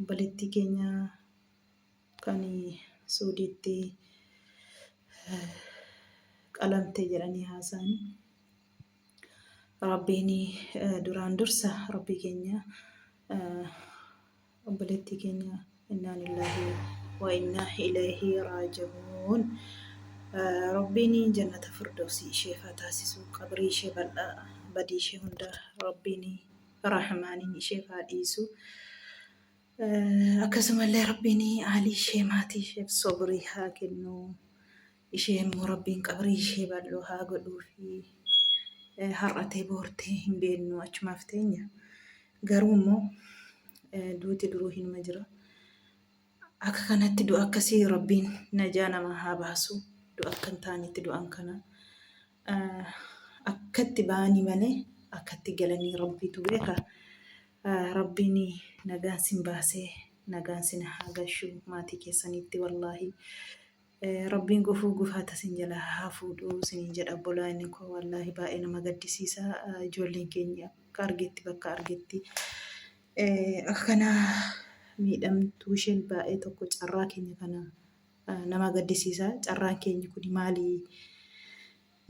Obboleettii keenya kan Suudiitti qalamte jedhanii haasa'an. Rabbiin duraan dursa Rabbii keenya obboleettii keenya innaa lillahi wa innaa ilayhi raaji'uun Rabbiin jannata firdawsii isheef haa taasisu qabrii ishee bal'aa badii ishee hunda Rabbiin Rahmaaniin isheef haa dhiisu. Akkasumallee Rabbiin aalii ishee maatii isheef sobrii haa kennu. Ishee immoo Rabbiin qabrii ishee bal'oo haa godhuufi. Har'atee boortee hin beennu achumaaf teenya. Garuu immoo duuti duruu hinuma jira. Akka kanatti du'a akkasii Rabbiin najaa namaa haa baasu. Du'a akka hin taanetti du'an kana. Akkatti ba'anii malee akkatti galanii rabbiitu beeka. Rabbiin nagaan sin baasee nagaan sin haa gashu maatii keessanitti wallaahi. Rabbiin gufuu gufaata sin jala haa fuudhu sinin jedha obbolaani koo wallaahi baay'ee nama gaddisiisa ijoolleen keenya akka argetti bakka argetti akkana miidhamtuu isheen baay'ee tokko carraa keenya kana nama gaddisiisa carraan keenyi kuni maali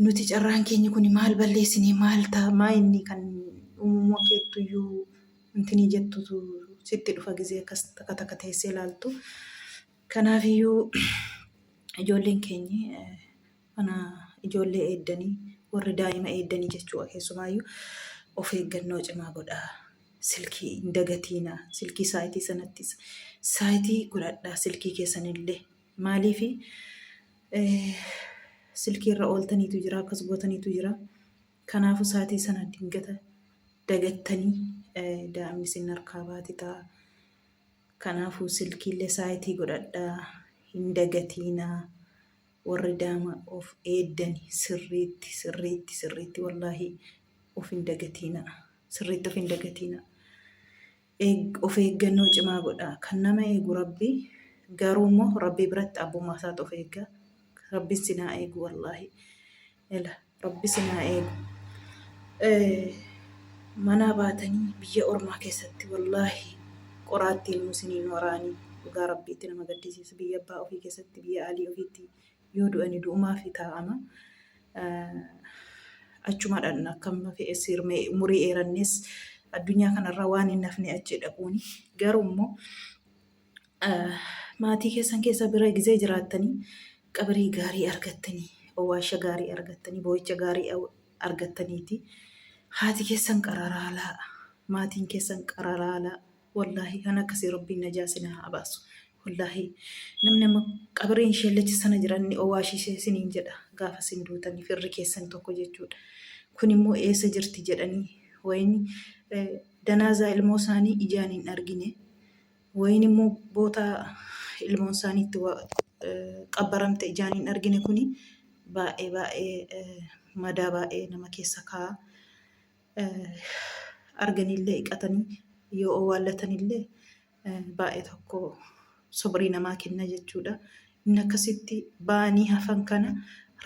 nuti carraan keenyi kuni maal balleessine maal ta maa inni kan uumummoo keettu iyyuu intinii jettutu sitti dhufa gizee akkas takka takka teessee laaltu kanaaf iyyuu ijoolleen keenyi Kana ijoollee eeddanii, warri daa'ima eeddanii jechuudha keessumaayyuu of eeggannoo cimaa godhaa. Silkii hin dagatiinaa. Silkii saayitii sanattis saayitii godhadhaa silkii keessanillee. Maaliif silkii irra ooltaniitu jira akkas gootaniitu jira. Kanaafuu saayitii sana dingata dagattanii daa'imni isin harkaa baati ta'a. Kanaafuu silkiillee saayitii godhadhaa hin dagatiinaa. Warri daama of eeddani sirriitti sirriitti sirriitti wallaahi of hin dagatiina sirriitti of hin dagatiina Eeg of eeggannoo cimaa godhaa kan nama eegu rabbi garuu immoo rabbi biratti abbummaa isaatu of eegga rabbin sinaa eegu wallaahi Ela rabbi isin haa eegu. Manaa baatanii biyya ormaa keessatti wallaahi qoraattiin nuu isinii hin waraaniin dhugaa rabbii itti nama gaddisiisa biyya abbaa ofii keessatti biyya aalii ofiitti yoo du'ani du'umaafi taa'ama achuma dhaqna akkam fe'es hirmee umurii eerannees addunyaa kanarra waan hin hafne achi dhaquuni garuu immoo maatii keessan keessa bira gizee jiraattanii qabrii gaarii argattanii owwaasha gaarii argattanii boo'icha gaarii argattaniiti haati keessan qararaalaa maatiin keessan qararaalaa wallaahi kan akkasii rabbiin najaa sinaa haa baasu wallaahi namni amma qabriin sheellacha sana jiranni owwaashisee siniin jedha gaafa sin duutanii firri keessan tokko jechuudha kun immoo eessa jirti jedhanii wayini danaazaa ilmoo isaanii ijaan hin argine Wayiin immoo boota ilmoon isaanii itti qabbaramte ijaan hin argine kuni baay'ee baay'ee madaa baay'ee nama keessa kaa'a. Arganiillee iqatanii yoo owwaallatanillee baay'ee tokko sobrii namaa kenna jechuudha. Inni akkasitti ba'anii hafan kana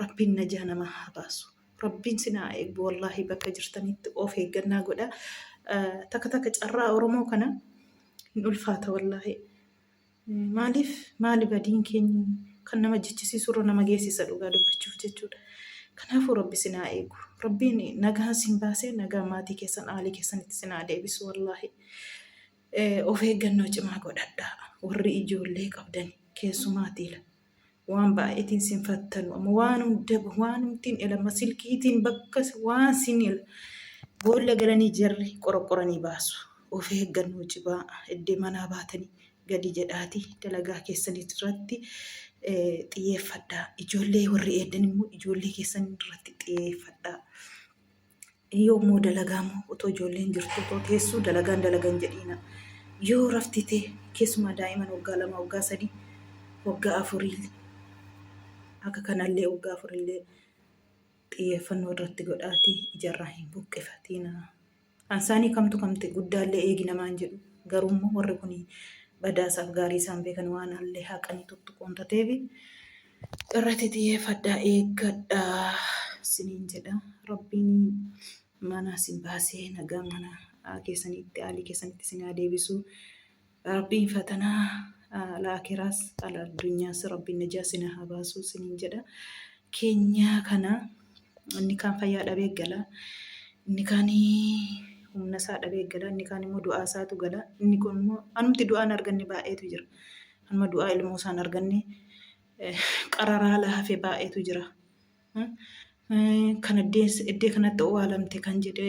Rabbiin najaa namaa haa baasu. Rabbiin sin haa eeggu wallaahi bakka jirtanitti of eeggannaa godha takka takka carraa oromoo kana hin ulfaata wallaahi maaliif maali badiin keenya kan nama jechisiisu irra nama geessisa dhugaa dubbachuuf jechuudha kanaafuu rabbi sin haa eegu rabbiin nagaan sin baasee nagaan maatii keessan aalii keessanitti sin haa deebisu wallaahi of eeggannoo cimaa godhadhaa warri ijoollee qabdan keessumaatiila. waan baay'eetiin sin fattanu amma waan hunda waan humtiin elama silkiitiin bakka waan sin boolla galanii jarri qoroqoranii baasu of eeggannoo cibaa iddee manaa baatanii gadi jedhaati dalagaa keessanii irratti xiyyeeffadhaa ijoollee warri eeddan immoo ijoollee keessan irratti xiyyeeffadhaa Yoo immoo dalagaa immoo otoo ijoolleen jirtu otoo teessuu dalagaan dalagan jedhiina. Yoo rafti tee keessumaa daa'iman waggaa lama waggaa sadii waggaa afurii akka kanallee waggaa afurillee xiyyeeffannoo irratti godhaatii ijarraa hin buqqifatiina. Ansaanii kamtu kamte guddaallee eegi namaan jedhu garuu immoo warri kun badaasaaf gaarii isaan beekan waan allee haqanii tuttuquun tateefi Irratti xiyyeeffadhaa eeggadhaa siniin jedha. Rabbiin mana isin baasee nagaa mana ah, keessanitti aalii keessanitti isin haa deebisu. Rabbiin fatanaa ah, al-aakiraas al-addunyaas Rabbiin najaa isin haa baasu siniin jedha. Keenyaa kana inni kaan fayyaa dhabee gala. Inni kaan humna isaa dhabee gala. Inni kaan immoo du'aa isaatu gala. Inni kun immoo anumti du'aan arganne baay'eetu jira. Amma du'aa ilmoo isaan arganne qararaala hafe baay'eetu jira. Kan eddee kanatti owaalamte kan jedhe